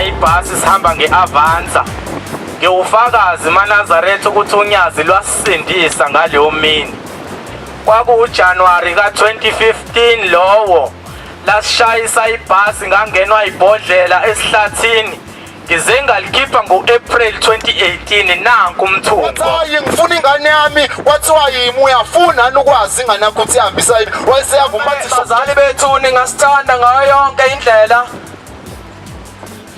ibhasi sihamba nge-avanza ngiwufakazi manazaretha ukuthi unyazi lwasisindisa ngaleyo mini KwakuwuJanuwari ka-2015 lowo lasishayisa ibhasi ngangenwa ibhodlela esihlathini ngize ngalikhipha ngo-april 2018 nanku umthungowathi ngifuna ingane yami kwathiwa yimi uyafuna ni ukwazi ingane yakho ukuthi ihambisa yini wayeseyavuma bazali bethu ningasithanda ngayo yonke indlela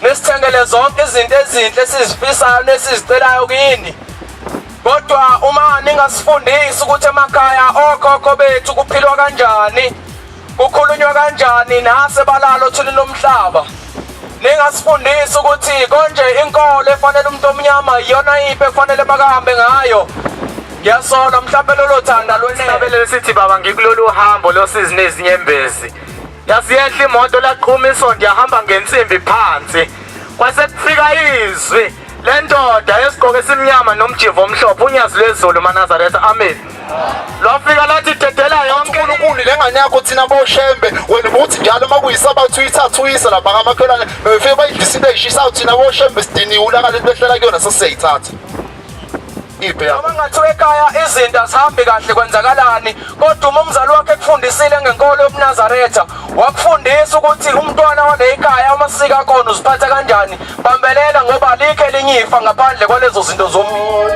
nisithengele zonke izinto ezinhle esizifisayo nesizicelayo kini kodwa uma ningasifundisi ukuthi emakhaya okhokho bethu kuphilwa kanjani kukhulunywa kanjani nase balalo thini lomhlaba ningasifundisi ukuthi konje inkolo efanele umuntu omnyama iyona iphi ekufanele bakahambe ngayo ngiyasola mhlawumbe lolo thanda lwenabelele sithi baba ngikulolu hambo losizi nezinyembezi Yasiyehla imoto laqhuma isonto yahamba ngensimbi phansi. Kwase kufika izwi lendoda yesigqoko esimnyama nomjivo omhlophe unyazi lwezulu manazaretha amen lwafika lathi dedela yonke uNkulunkulu lengane yakho thina boshembe wena ubuthi njalo uma kuyisabathu uyithathuyisa lapha ngamakhelwane befike bayidlisile ishisayo thina boshembe sidiniwe ulaka lento behlela kuyona sesiyayithatha iphi yakho noma ngathiwa ekhaya izinto azihambi kahle kwenzakalani kodwa uma umzali wakhe ekufundisile ngenkolo yobunazaretha wakufundisa ukuthi umntwana waneyikhaya uma sika kona uziphatha kanjani bambelela ngoba alikho elinye ifa ngaphandle kwalezo zinto zomuntu